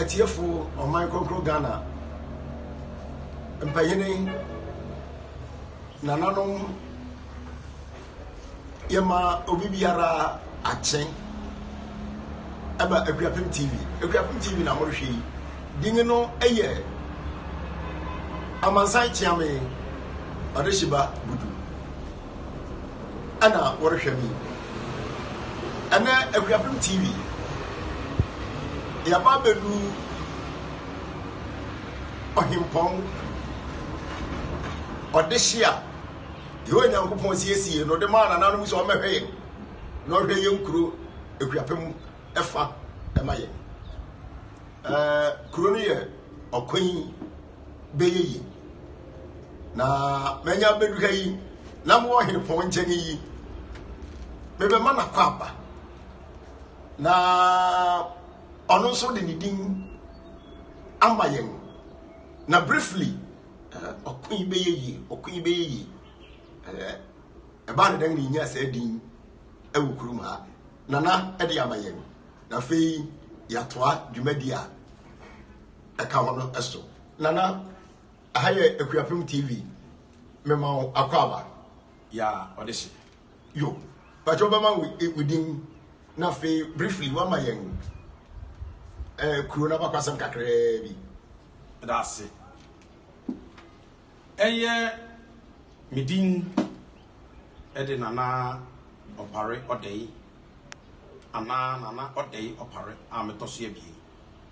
atiefo ɔman kronkron ghana mpanyini nananom yɛma obi biara akye ɛba akuapem tv akuapem tv na morehwɛ yi din no ɛyɛ amansan kyeame ɔde hyeba gudu ɛna wɔrehwɛ me yi ɛnɛ akuapem tv yɛba abɛdu ɔhempɔn ɔdehye a yehowa nyankopɔn siesie na ɔde maa nananom sɛ ɔmmɛhwɛ yɛn na ɔhwɛ yɛn kuro akuapem ɛfa ɛma yɛn ɛɛ kuro no yɛ ɔkwan bɛyɛ yi na manya bɛdu ha yi na mowɔ henepɔn nkyɛn yi mebɛma no akɔ aba na ɔno nso de ne din ama yɛn na briefly eh, ɔko yi bɛyɛ yie ɔko yi bɛyɛ yie eh, ɛbaa ne dɛn na ɛnya saa din ɛwɔ kurom ha nana ɛde ama yɛn na afei yɛatoa dwumadi a ɛka ho no so. Nana, aha yɛ Akuapem TV, mema wo akwaaba. Ya, ɔde hye. Yo, pakyɛ wobɛma wo e, din na afei briefly wama yɛn eh, kuro no abakwasɛm kakraa bi. Ɛda ase. Ɛyɛ me din ɛde Nana Ɔpare Ɔdɛe anaa Nana Ɔdɛe Ɔpare a metɔ so abien.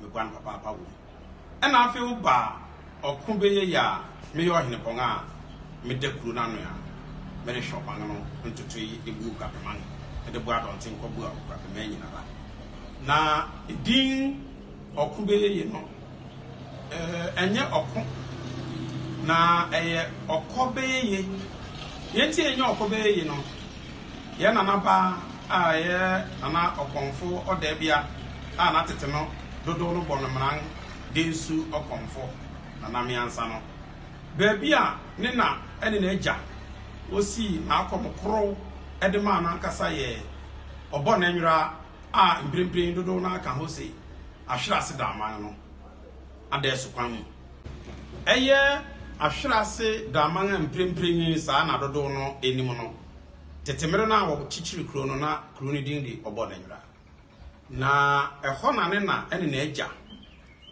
meguan papaapa wom. Ɛna afei wo ba a ɔko bɛyɛ yi a meyɛ ɔhenepɔn a meda kuro no ano a merehwɛ ɔman no ntotoe de bu Aguapeman de bu adɔnten kɔ bu Aguapeman nyinara. Na edin ɔko bɛyɛ yi no ɛnyɛ ɔko na ɛyɛ ɔkɔ bɛyɛ ye. Deɛ nti ɛnyɛ ɔkɔ bɛyɛ yi no Yɛn nana pa a ɛyɛ Nana Ɔkɔmfo Ɔdaabia a na tete no dodow no bɔ no mmran Densu Ɔkɔmfo, Nana Miansa no. Baabi a ne na ne n'agya wosii n'akɔm korow de maa no ankasa yɛ Ɔbɔnanwira a mprempren dodow no ara ka hɔ se Ahwerase Daaman no. adaeso kwan mu. Ɛyɛ Ahwere ase Draman a mprempren yi saa na dodow no nim no. Tete mmere no a wɔkyekyeree kurow no na kurow no din de Obɔnanyira. Na ɛhɔ na ne na ne n'agya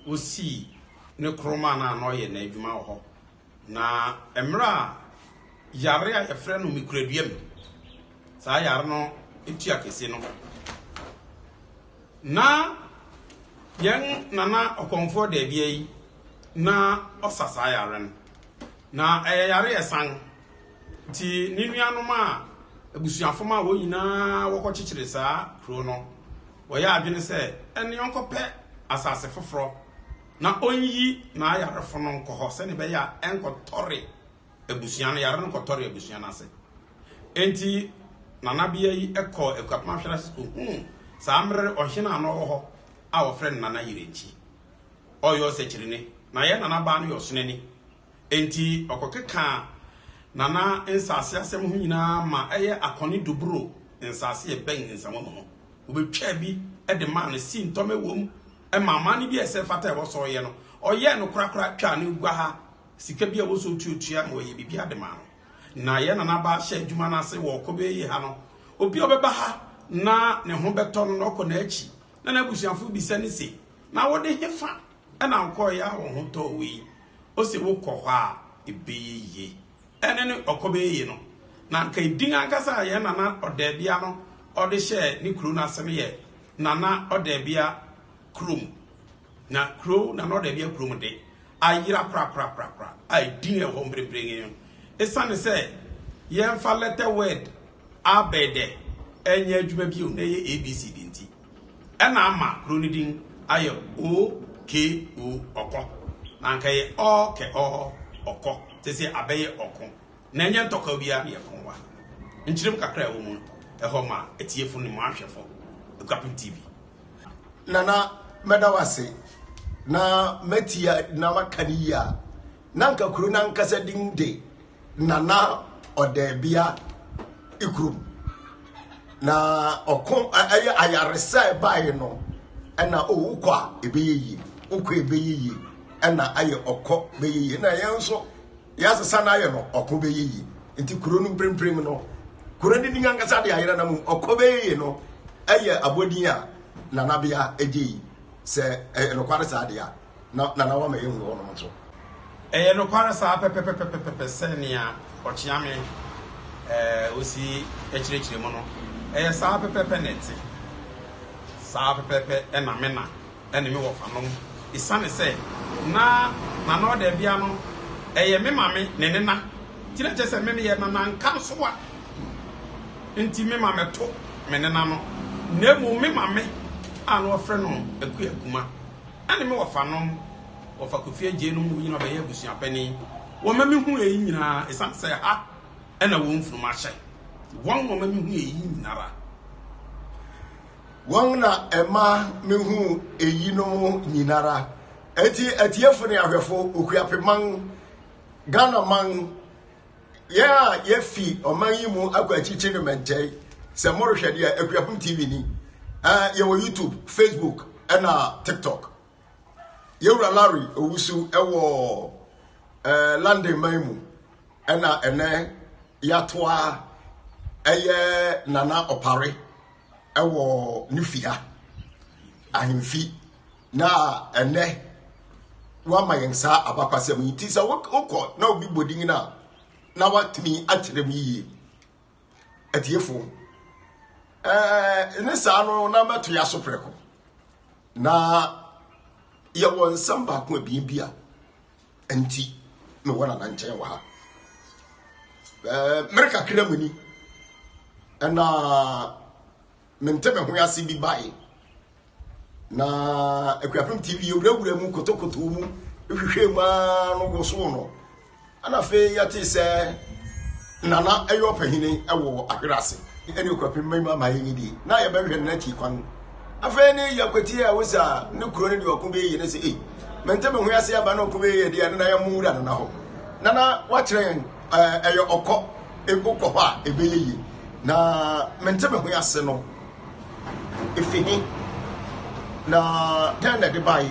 wosii ne koromaa no a na ɔyɛ n'adwuma wɔ hɔ Na mmerɛ a yare a yɛfrɛ no mikuraduam, saa yare no tua kɛse no, na yɛn Nana Ɔkɔmfoɔ Daabia yi na ɔsa saa yare no. Na ɛyɛ yare a ɛsan, nti ne nuanom a abusuafo ma wɔn nyinaa wɔkɔkyekyere saa kuro no, wɔyɛ adwene sɛ ɛnneɛ ɔnkɔpɛ asase foforɔ. na ɔnyi n'ayarefo no nkɔ hɔ sɛnea ɛbɛyɛ a ɛnkɔtɔre abusua no, yare no kɔtɔre abusua no ase. Enti nanabea yi kɔɔ Akuapem Ahwere ase kohuu saa mmere ɔhene a na ɔwɔ hɔ a wɔfrɛ no Nana Yirenkyi. Ɔyɛ ɔsakyirine, na yɛn nanabaa no yɛ ɔsonani. Enti ɔkɔkekaa Nana nsase asɛm ho nyinaa ma ɛyɛ Akɔne Duburo nsase a ɛbɛn Nsamu no ho. Wobetwaa bi de maa no, Sintɔm wom, Ɛmaa amanne bi a ɛsɛ mfata a ɛwɔ sɛ ɔyɛ no, ɔyɛɛ no korakora twaa ne guaha sika bi a ɛwɔ sɛ otuatua ma wɔyɛ biribiara de maa no. Na yɛn nanabaa hyɛ adwuma no ase wɔ Ɔkɔ Bɛyɛ Yie ha no. Obi a ɔbɛba ha na ne ho bɛtɔ no na ɔkɔ n'akyi na n'abusuafo bisa no se, Na wo de hefa na wokɔeɛ a wo ho tɔɔ wo yi? Ose, Wokɔ hɔ a, ɛbɛyɛ yie. ɛne ne Ɔkɔbɛɛyi no, na anka edin ankasa a yɛn Nana Ɔdaabia no ɔde hyɛɛ ne kurow no ase no yɛ Nana Ɔdaabia Kurom. Na kurow Nana Ɔdaabia Kurom de, ayera korakorakorakora a edin a ɛwɔ hɔ mprempren yi no, esiane sɛ yɛmfa lɛtɛ word abɛɛdɛ nyɛ adwuma bio na ɛyɛ ABC de nti. Ɛna ama kuro no din ayɛ OKO, Ɔkɔ. Na anka ɛyɛ Ɔɔkɛɔɔ, Ɔkɔ, te se abɛyɛ Ɔko. Na ɛnyɛ ntɔkwaw biara na yɛko wa. Nkyeremu kakra a ɛwɔ mu no, ɛhɔ ma atiefo ne mo ahwɛfo Aguapem TV. Nana, mɛda wo ase na matie na maka no yie a, na anka kuro no ankasa din de. nana ɔdaabia kurom na ɔko ɛyɛ ayaresa a ɛbaeɛ no ɛna owu kɔ a ɛbɛyɛ yie wokɔ ɛbɛyɛ yie ɛna ayɛ ɔkɔ bɛyɛ yie na yɛn nso yɛasesa no ayɛ no ɔko bɛyɛ yie nti kuro no mprempren no kuro no din ankasa de ayerɛ no mu ɔkɔ bɛyɛ yie no ɛyɛ abɔdin a nanabea ɛgye yi sɛ ɛyɛ nokware saa deɛ a na Nana Wama yɛ hunu hɔnom nso. Ɛyɛ nokware saa pɛpɛpɛpɛpɛpɛ sɛ nea Ɔkyeame eh, osi kyerɛkyerɛ mu no, ɛyɛ saa pɛpɛpɛ na ɛte. Saa pɛpɛpɛ na me na ne me wɔfanom, esiane sɛ na Nana Ɔdaabia no yɛ me mame ne nena, nti na kyerɛ sɛ me meyɛ Nana Nkansowa, nti me ma mɛto me nena no, na mmom me mame a na wɔfrɛ no Akua Kuma. Ɛne me wɔfanom, wɔfa Kofi agye nom no nyinaa bɛyɛ abusua panin. Wɔma mehu eyi nyinaa esiane sɛ ha na wɔn mfunumu ahyɛ. Wɔn na wɔma mehu eyi nyinara. Wɔn na ɛma mehu eyinom nyinara. Enti atiefo ne ahwɛfo, Okuapeman, Ghanaman, Yɛn a yɛafi ɔman yi mu akɔ akyikyiri mmɛntɛe, sɛ morehwɛ deɛ Akuapem TV ni. Eh, yɛwɔ YouTube, Facebook, ɛna TikTok. Yɛwura Larry Owusu ɛwɔ eh, London man mu, ɛna ɛnɛ yɛatoa ɛyɛ Nana Ɔpare. wɔ ne fi ha, ahemfi, na ɛnɛ wama yɛn saa abakwasɛm yi nti sɛ wokɔ na obi bɔ din no a na watumi akyerɛ mu yie atiefo ɛɛ ne saa no na mɛto yɛ aso prɛko na yɛwɔ nsɛm baako abien bi a Nti na wɔn nana nkyɛn wɔ ha. Ɛɛ mmere kakra mu ni ɛna mente me ho ase bi bae. Na Akuapem TV yɛwurawura mu kotokoto mu hwehwɛ mu ara no wosow no. Ɛna afei yɛte sɛ na na ɛyɛ ɔpahini wɔ ahwerɛ ase ɛne ɔkwapem ma ima ma yɛnyi die na yɛbɛhwɛ no n'akyi kwan afei ne yɛkwatie a wosa ne kuro no deɛ ɔko bɛyɛ ne sɛ ei mente me ho ase aba na ɔko bɛyɛ deɛ no na yɛmo wura no na hɔ na na wakyerɛ yɛn ɛyɛ ɔkɔ ɛkokɔ hɔ a ɛbɛyɛ yie na mente me ho ase no Efi he, na dɛn na ɛde bae,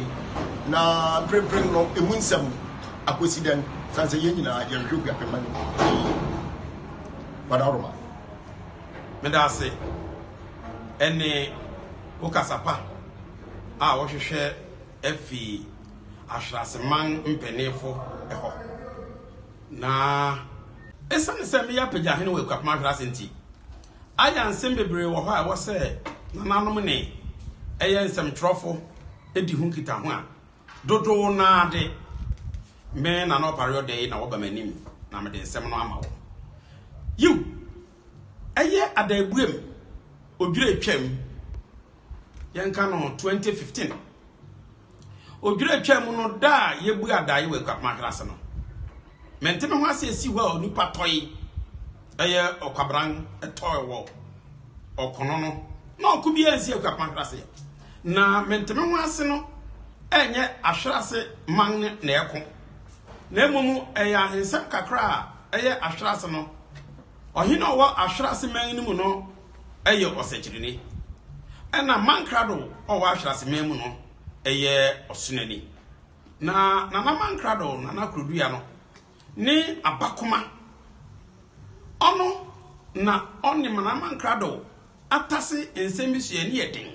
na mprempren no emu nsɛm akosi dɛn? Sane sɛ yɛn nyinaa yɛhwehwɛ Kuapemma no mu pii. Wada Roma. Meda ase ne wo kasa pa a wohwehwɛ afi Ahwenaseman mpanyinfo hɔ, na esiane sɛ meyɛ apagyahene wɔ Akuapem Ahwenase nti, Aya nsɛm bebree wɔ hɔ a ɛwɔ sɛ nananom ne ɛyɛ nsɛmtwerɛfo di ho nkitaho a dodow no ara de, me, Nana Opare Oday, na wɔba m'anim na mede nsɛm no ama wɔn. Yiw, ɛyɛ adaabuem odwiratwam, yɛnka no 2015. Odwira twa mu no da a yɛbue adaeɛ wɔ Akuapem Atenase no, mente me ho ase ɛsi hɔ a onipa tɔe ɛyɛ ɔkwabran ɛtɔe wɔ ɔkono no na ɔko bi ansi Akuapem Atenase na mente me ho ase no ɛnyɛ ahwerase man no na ɛko na mmom ɛyɛ ahensɛm kakra a ɛyɛ ahwerase no ɔhene ɔwɔ ahwerase man no mu no yɛ ɔsɛkyerɛnni, ɛnna Mankrado a ɔwɔ Ahweraseman mu no yɛ ɔsonani. Na Nana Mankrado, Nana Krodua no, ne abakoma. Ɔno na ɔne Nana Mankrado atase nsɛm bi so yɛ ne yɛ den.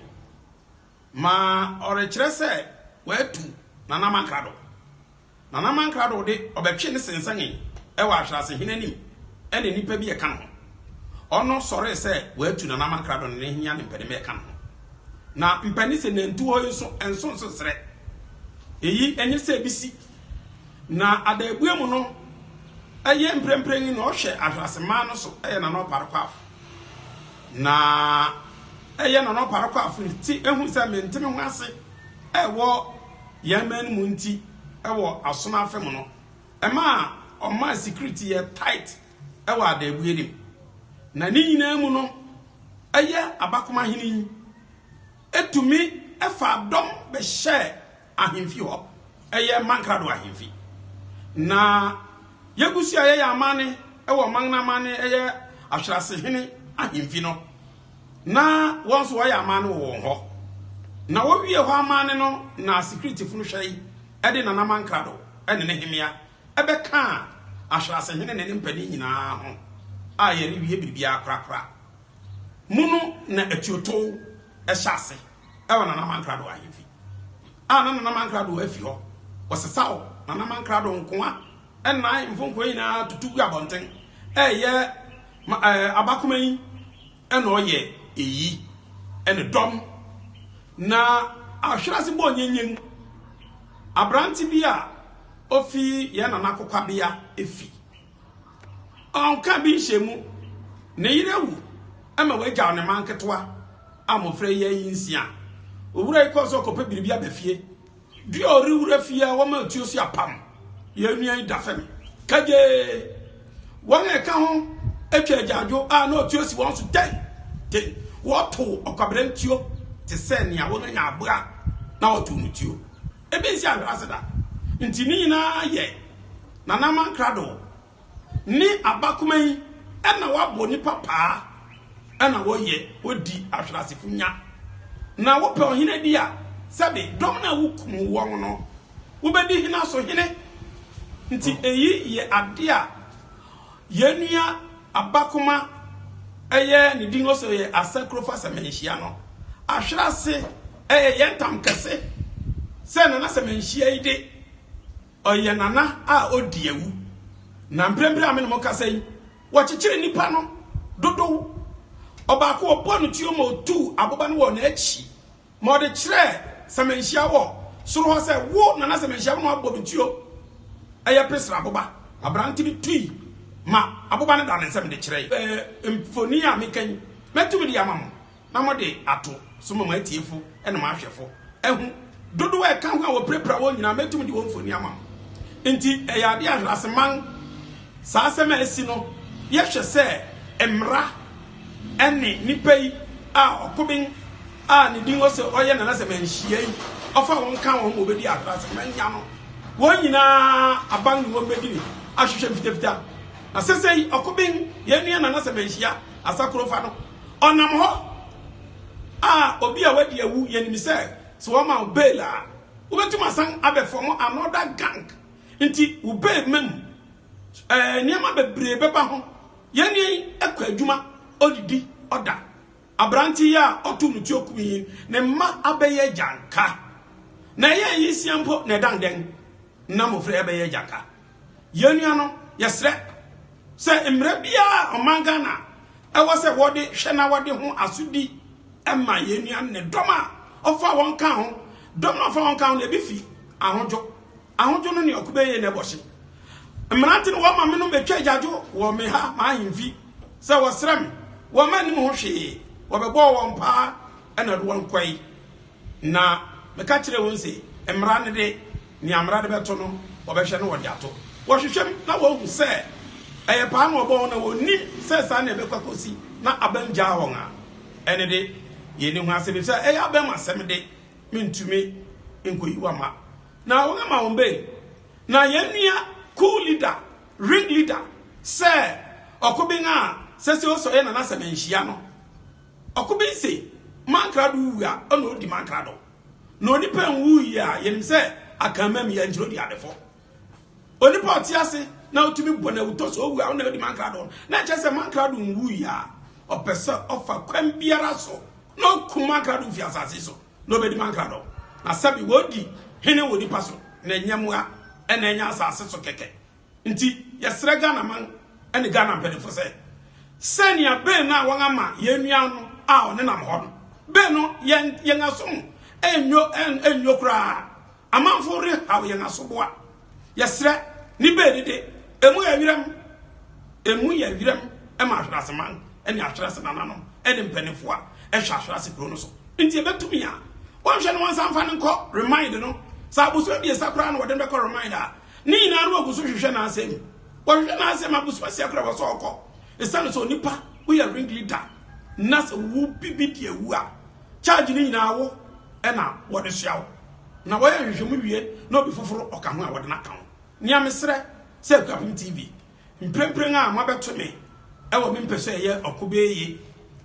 Ma ɔrekyerɛ sɛ watu Nana Mankrado. Nana Mankrado de, ɔbɛtwee no sensɛnee wɔ Ahwerasehene anim ɛne nnipa bi a ɛka ne ho. Ɔno sɔree sɛ watu Nana Mankrado ne ne henia ne mpɛnema a ɛka ne ho. Na mpɛne sɛ nantu hɔ yi nso ɛnso nso serɛ. Eyi ɛnyɛ sɛ ebi si. Na adaabue mu no, ɛyɛ mprempren yi na ɔhwɛ Ahwerase man no so yɛ Nana Ɔpare Kwaafo. Na ɛyɛ na ɔno Parekɔ Afiri te ehu sɛ mente me ho ase wɔ yɛn man no mu nti wɔ asono afe mu no, ɛma ɔmaa security yɛ tight wɔ Adaabue no mu. Na ne nyinaa mu no, ɛyɛ Abakomahene yi tumi faa dɔm bɛhyɛɛ ahemfi hɔ, ɛyɛ mma nkrado ahemfi. Na Yebusi a ɛyɛ yɛn amanne wɔ ɔman no amanne, ɛyɛ ahwerase hene ahemfi no, na wɔn nso wɔyɛ amanne wɔ wɔn hɔ. Na wɔwie hɔ amanne no na Sikritefo no hwɛ yi de Nanaman Krado ne ne hemmea bɛkaa ahwerase hene ne ne mpanin nyinaa ho a yɛrewie biribiara korakora mu no na atuotow hyɛ ase. wɔ Nana Mankrado ahemfi a na Nana Mankrado afi hɔ. Wɔsesaw Nana Mankrado nkoa ɛnna ahemfo nkoa nyinaa tutu gu abɔnten. Ɛyɛ ma ɛɛ abakoma yi ɛna ɔyɛ eyi ɛne dɔm na ahwere ase bɔ nyenyen aberante bi a ofi yɛn nana kokwabea efi Ɔnka bi nhyɛ mu. Ne yere awu ma wagyaw ne mma nketewa a mmofra yi ayi nsia. Owura yi kɔɔ so rekɔpɛ biribi aba fie. Bere a ɔrewura fie a wɔma atuo so apam. Yɛn nua yi da fam kagyee. Wɔn a ɛka ho atwa agyaadwo a na ɔtuo si wɔn so denneennen. Wɔtow ɔkwaberantuo te sɛ nea wɔanya aboa na wɔtow no tuo. Ebi nsi anhwɛ ase da. Nti ne nyinaa yɛ Nanaman krado ne abakoma yi na wabɔ nipa paa na wɔyɛ wɔdi ahwerasefo nya. Na wopɛ ɔhene di a, sɛbe dɔm no a wokum wɔn no wobɛdi hena so hene? Nti eyi yɛ ade a. Yɛn nua Abakoma, ɛyɛ ne din ɔsɛ ɔyɛ Asakurofa Sɛmɛnhyia no, ahwere ase ɛyɛ yɛn tam kɛse sɛ Nana Sɛmɛnhyia yi de, ɔyɛ Nana a ɔdi awu. Na mprempren a me ne mo kasa yi, wɔkyekyere nnipa no dodow. Ɔbaako wɔbɔɔ no tuo ma ɔtuu aboba no wɔ n'akyi Ma ɔde kyerɛɛ Sɛmɛnhyia wɔ soro hɔ sɛ, Wo na na Sɛmɛnhyia wo na woabɔ me tuo. Ɛyɛ pe sra aboba. Aberante no tui ma aboba no daa ne nsam de kyerɛe. Ɛɛ, mfoni a meka yi, mɛtumi de ama mo na mode ato so ma mo atiefo ne mo ahwɛfo ahu. Dodow a ɛka ho a wɔpirapira wɔn nyinaa, mɛtumi de wɔn mfoni ama mo. Enti, ɛyɛ ade a nhwɛase man. Saa asɛm a asi no, yɛhwɛ sɛ mmara ne nnipa yi a ɔkoben a ne din wɔ sɛ ɔyɛ Nana Sɛmɛ nhyiayi, ɔfa wɔn kan wɔn ma wɔbɛdi Accra Sɛmɛ nya no, wɔn nyinaa aban ne wɔn bɛdi ne ahwehwɛ mfitafita. Na sesei ɔkoben, yɛn nua Nana Sɛmɛ Nhyia Asakurofa no, ɔnam hɔ a obi a wadi awu, yɛnim sɛ sɛ wɔma wo bail a, wobɛtumi asan abɛfɔm another gang Nti wo babe ma mu eh nneɛma bebree bɛba ho yɛne yi ɛkɔ adwuma ɔdidi ɔda aberante yi a ɔto no tuo kumi yi ne mma abɛyɛ agyanka na ɛyɛ ayisia mpo na ɛdan dɛn na mmɔfra yi abɛyɛ agyanka yɛn nua no yɛsrɛ sɛ mmerɛ biara ɔman Ghana ɛwɔ sɛ wɔde hwɛ na wɔde ho asodi ɛma yɛn nua no ne dɔm a ɔfa wɔn ka ho dɔm a ɔfa wɔn ka ho na ebi fi ahodwo Ahodwo no ne ɔkobɛn ye na ɛbɔ hye. Mmerante no wɔma menom bɛtwa agyadwo wɔ me ha m'ahemfi sɛ wɔsrɛ me. Wɔmma nnim ho hwee. Wɔbɛbɔɔ wɔn paa na de wɔn kɔe. Na meka kyerɛɛ wɔn se, Mmara no de, nea mmara de bɛto no, wɔbɛhwɛ na wɔde ato. Wɔhwehwɛ mu na wɔahu sɛ ɛyɛ paa na wɔbɔɔ wɔn a wɔnnim sɛ saa na ɛbɛkɔ akosi na abam gyaa wɔn a, ɛno de, yɛnni ho asɛm, efisɛ ɛyɛ abam asɛm de, mentumi nkɔyi wɔn amma. Na wɔn ama wɔn bɛn. Na yɛn nua coup leader, ring leader, sɛ ɔkoben a sɛ sɛ ɔsɔ yɛ nana sɛ manhyia no. Ɔkoben se mankrado wu a ɔna ɔdi mankrado. Na onipa nwuu yi a yɛnim sɛ akanman mu yɛ nkyerɛ ɔdi adefo. Onipa ɔte ase na ɔtumi bɔ na awutɔ sɛ ɔwu a ɔna ɔdi mankrado no. Na ɛkyerɛ sɛ mankrado nwuu yi a ɔpɛ sɛ ɔfa kwan biara so na ɔkum mankrado fi asase so. na obedi ma nkradɔ, na sɛbe wɔredi hene wɔ nipa so na ɛnyɛ mmoa na ɛnyɛ asase so kɛkɛ nti yɛsrɛ Ghana man ne Ghana mpanyinfo sɛ sɛ nea bill no a wɔn ama yɛn nua no a ɔnenam hɔ no bill no yɛn yɛn asom nnwo nnwo koraa Amanfo rehaw yɛn asoboa. Yɛsrɛ, ne beedi de, emu yɛ wiram. Emu yɛ wiram ma ahwereaseman ne ahwerɛase nananom ne mpanyimfo a ɛhwɛ ahwerɛase kurow no so. Enti ebetumi a, wɔnhwɛ na wɔnsan mfa no nkɔ Remind no. Sɛ abosome abiɛsa koraa na wɔde no bɛkɔ Remind a, ne nyinaa no wɔgu so hwehwɛ n'asɛm. Wɔhwehwɛ n'asɛm abosome asia koraa wɔ sɛ ɔkɔ. Esiane sɛ onipa, woyɛ ringleader, na sɛ wubibi de awu a, Charge no nyinaa wo na wɔde soa wo. Na wɔyɛ nhwehwɛmu wie na obi foforo ɔka ho a wɔde no aka ho. Nea mesrɛ sɛ Akuapem TV, mprempren a moabɛto me wɔ me mpɛ sɛ ɛyɛ ɔko bɛyɛ ye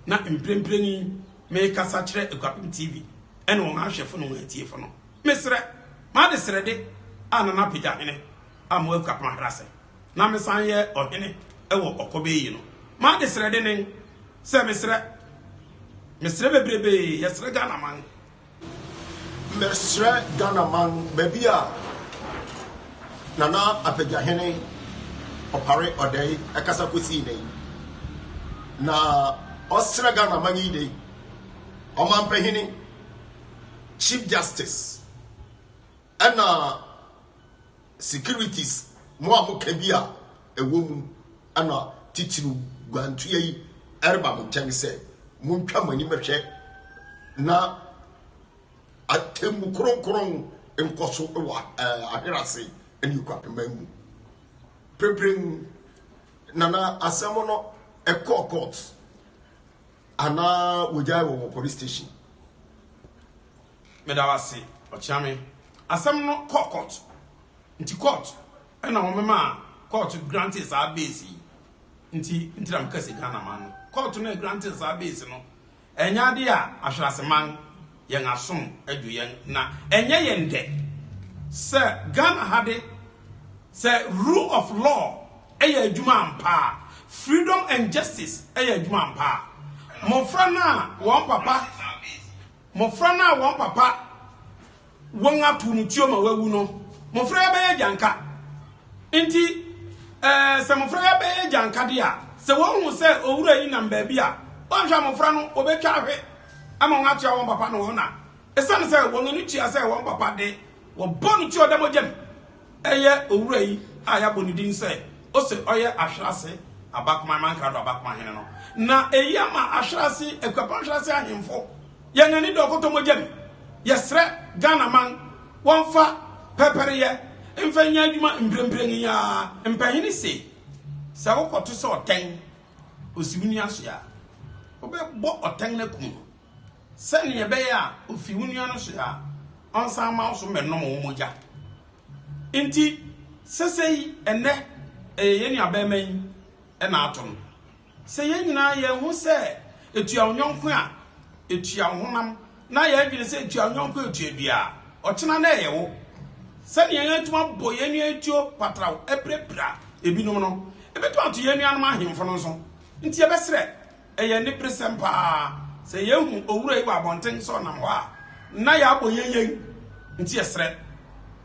na mprempren yi merekasa kyerɛ Akuapem TV ne wɔn ahwɛfo ne wɔn atiefo no. Mesrɛ m'adesrɛde a Nana Apegyahene Amoah Akuapem Ahrase. na mesan yɛ ɔhene wɔ ɔkɔbɛ yi no m'adesrɛ dennen sɛ mesrɛ mesrɛ bebrebee yɛsrɛ Ghana man mesrɛ Ghana man baabi a Nana Apagyahene Opare Odei kasa kɔsii nɛ yi na ɔsrɛ Ghana man yi dei ɔmampahene Chief Justice Ɛna securities mo a mo ka bi a ɛwɔ mu ɛna titiriw guantua yi ɛreba mo nkyɛn sɛ montwa mo ani mɛhwɛ na atemmu kronkron nkɔ so wɔ eh, ahwerase ne nkwapema mu pemprem nana asɛm no ɛkɔɔ court Anaa wɔgyae wɔn wɔ police station. Meda wo ase Ɔkyeame. Asɛm no kɔɔ court nti court ɛna wɔn maa court grantee saa base yi nti nti na meka sɛ Ghana man no court no ɛgrantee saa base no ɛnyɛ adeɛ a ahwerase man yɛn asom adu yɛn na ɛnyɛ yɛn dɛ sɛ Ghana ha de sɛ rule of law yɛ adwuma ampa a, freedom and justice yɛ adwuma ampa a, mmofra no a wɔn papa mmofra no a wɔn papa wɔn ato no tuo ma wawu no, mmofra yɛ bɛyɛ gyanka. Nti ɛɛ sɛ mmofra yɛ bɛyɛ gyanka de a, sɛ wɔn hu sɛ owura yi nam baabi a, wɔnhwɛ mmofra no wɔbɛtwa ahwɛ. ama wɔatoa wɔn papa no ho na esiane sɛ wɔn ani tua sɛ wɔn papa de, wɔbɔ no ti ɔda mogya mu. Ɛyɛ owura yi a yɛabɔ ne din sɛ ose ɔyɛ Ahwerase Abakoman Mankrado Abakoman Hene no na eyi ama Ahwerase, Akuapɔn Ahwerase ahemfo, yɛn ani da ɔkɔtɔ mogya mu. Yɛsrɛ Ghanaman wɔmfa pɛrpɛreyɛ mfa nyɛ adwuma mprempren yi ara. Mpahini se, Sɛ wokɔto sɛ ɔtɛn. osi wo nua so a, wobɛbɔ ɔtɛn no akum no, sɛnea ɛbɛyɛ a ofi wo nua no so a, ɔnsan mma wo so mmɛnom wo mogya. Enti, sɛsɛyi ɛnnɛ, ɛyɛ yɛn nuabarima yi na ato no. Sɛ yɛn nyinaa yɛn ho sɛ etua wo yɔnko a, etua wo honam Ná yɛn adwene sɛ tua wo yɔnko atua dua a, ɔkyena na ɛyɛ wo. Sɛnea yɛatumi abɔ yɛn nua atuo patraw apirapira ebinom no, ebetumi ato yɛn nuanom ahemfo no nso. Enti yɛbɛsrɛ, ɛyɛ aniberesɛm paa sɛ yehu owura yi wɔ abɔnten sɛ ɔnam hɔ a, na yɛabɔ yɛn yɛn nti yɛsrɛ.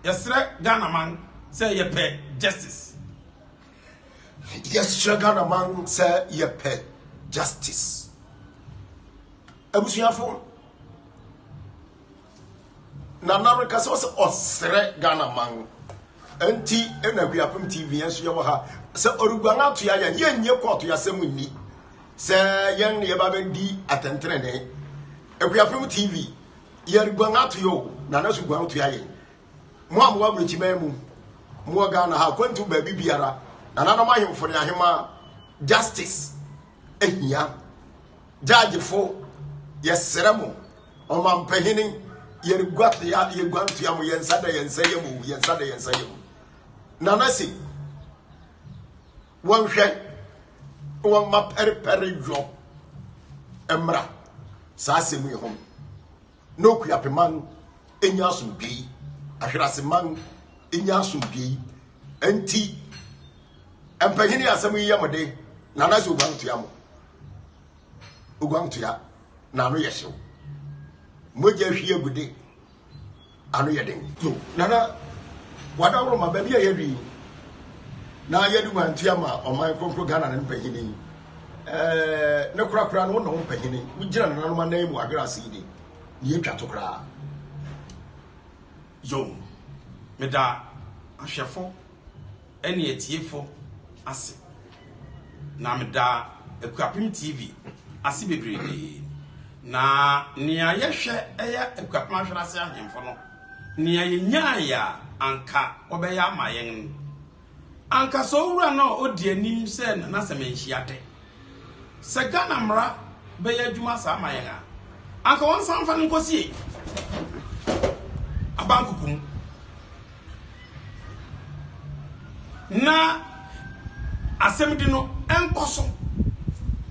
Yɛsrɛ Ghana man sɛ yɛpɛ justice. Yɛsrɛ Ghana man sɛ yɛpɛ justice. abusuafo na na reka sɛ ɔsɛ ɔsrɛ ghana man nti na wiapem tv yɛn nso yɛwɔ ha sɛ ɔreguan atoa yɛn yɛnyɛ kɔɔto yɛasɛm nni sɛ yɛn ne yɛba bɛdi atɛntenene akuapem tv yɛreguan atoa o na na so guan toa yɛn mo a mowɔ aburokyiman mu mowɔ ghana ha akwantu baabi biara nananom ahemfo ne ahema justice ahia Judgefo, yɛsrɛ mo, ɔmampanyini, yɛreguatea, yɛguantea mo, yɛn nsa da yɛn nsa yam o, yɛn nsa da yɛn nsa yam. Nana se, wɔnhwɛ, wɔmma pɛrepɛre dwɔ mmra saa asɛm yi ho na okuapeman nya asomdwee ahweraseman nya asomdwee nti mpanyini asɛm yi yɛ mo de na na sɛ oguan tua mo Oguantoa, n'ano yɛ hyew. Mogya hwie agude, ano yɛ den. So Nana Wadaworo ma baabi a yɛadu yi na yɛde guantoa ma ɔman kronkron Ghana ne mpanyin yi? Ɛɛ, ne korakora no, wo na wo mpanyin, wogyina nananom anan mu adwene ase yi de, ne yɛtwa to koraa. Yo, meda ahwɛfo. ne atiefo ase, na meda Akuapem TV ase bebrebe. Na nea yɛhwɛ yɛ Akuapem Ahwere Ase Ahemfo no, nea yenyae a anka wɔbɛyɛ ama yɛn no, anka sɛ owura no a odi anim sɛ Nana Sɛmɛnhyiade Sɛ Ghana mmara bɛyɛ adwuma saa ma yɛn a, anka wɔnsan mfa no nkɔsie Abankoko mu. Na asɛmdi no nkɔ so.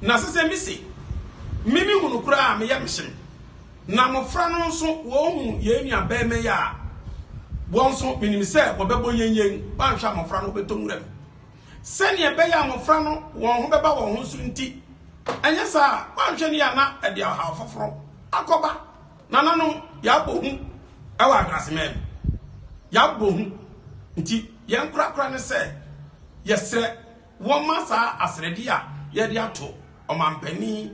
Na ɛsɛ sɛ mise, me mehunu koraa a, me yam hye me. Na mmɔfra no nso, wɔhu yɛn nuabarima yi a, wɔn nso menim sɛ wɔbɛbɔ yɛnyɛn, wɔanhwɛ a mmɔfra no wɔbɛtɔ nwura mu. Sɛnea ɛbɛyɛ a mmofra no wɔn ho bɛba wɔn ho so nti, anyɛ saa a, woanhwɛ no yie a na ɛde ɔhaw foforo akɔba nananom. Yɛabɔ hu wɔ adanseman mu. Yɛabɔ hu. Enti yɛn korakora ne sɛ yɛsrɛ wɔmma saa asrɛde a yɛde ato ɔmampanin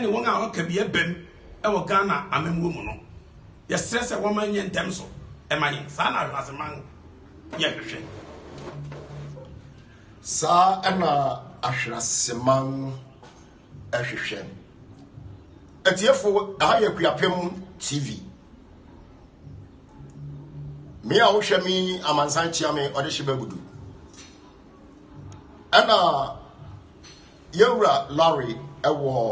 ne wɔn a wɔaka bi abam wɔ Ghana amammuo mu no, yɛsrɛ sɛ wɔmma ɛnyɛ ntɛm so mma yɛn. Saa na Awenaseman. yɛhwehwɛ. Saa na ahwenaseman hwehwɛ. Atiefo, ɛha yɛ Kuapem TV. Me a wohwɛ me amansan kyia me ɔde hye bagudu. Ɛna yɛwura Larry ɛwɔ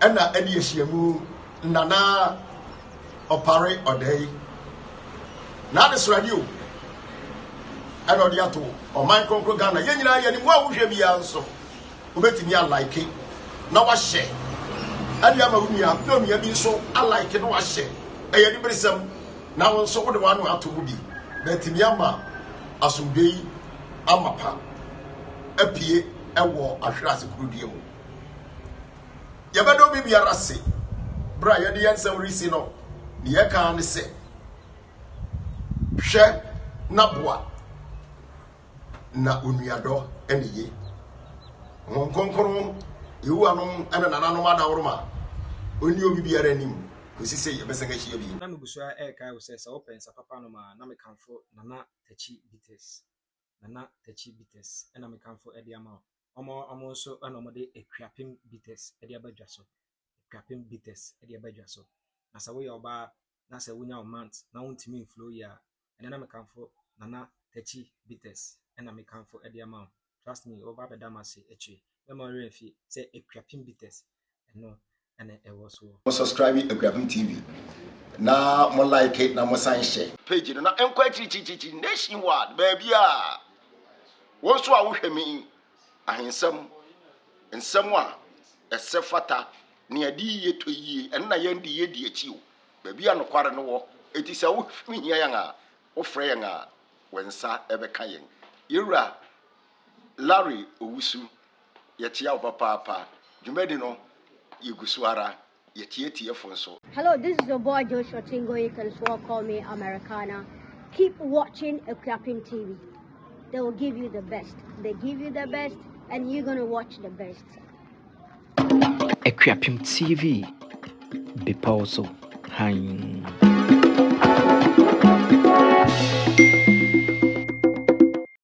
Ɛna ɛde ahyiamu nna na ɔpare ɔda yi n'adesrɛde o ɛna ɔde ato ɔman kronkron Ghana yɛn nyinaa yɛn mu a wohwɛ biara nso wobɛtumi alaike na wahyɛ ɛde ama wo nua na onua bi nso alaike na wahyɛ ɛyɛ ne beresɛm na wo nso wode w'ano ato mu bi na atumi ama asomdwe yi amapa apue ɛwɔ ahwerɛ ase kurodua mu Yɛbɛda obi biara ase berɛ a yɛde yɛn nsɛm resi no. Deɛ ɛka ara ne sɛ, hwɛ na boa, na onuadɔ ne ye. Honhom Kronkron, Yehowa no ne nananom adaworoma. Ɔnni obi biara anim kɔsi sɛ yɛbɛsan ahyia bio. Na nugu so ara rekae wo sɛ sɛ wopɛ nsa papa nom a, na mekamfo Nana Takyi Bites. Nana Takyi Bitters na mekamfo de ama wo. Wɔn a wɔn nso na wɔde Akuapem Bitters de aba dwa so. Akuapem Bitters de aba dwa so. Na sɛ woyɛ ɔbaa na sɛ wonya wo month na wontumi mflow yie a, ɛnɛ na mekamfo Nana Takyi Bitters na mekamfo de ama wo. Trust me, wobɛba abɛda m'ase akyire. Mɛma wo werɛ afi sɛ Akuapem Bitters ɛno na ɛwɔ soɔ. Mo subscribe Akuapem TV na mo like na mo san hyɛ. Page no na ɛnkɔ akyirikyirikyirikyiri nation wide baabiara. Wo nso a wohwɛ me yi, ahensɛm, nsɛm a ɛsɛ fata, nea ɛde yie tɔ yie, ɛno na yɛn de yɛdi akyi o. Baabi a nokware no wɔ, enti sɛ wohia yɛn a, wofrɛ yɛn a, wo nsa bɛka yɛn. Yɛn Wura Larry Owusu. Yɛkyea wo papaapa. Dwumadi no yɛgu so ara. Yɛkyea atiefo nso. Hello this is your boy Joshua Chingo you can swore call me Americana keep watching Akuapem TV they will give you the best they give you the best and you gonna watch the best. Akuapem TV bepɔw so hann.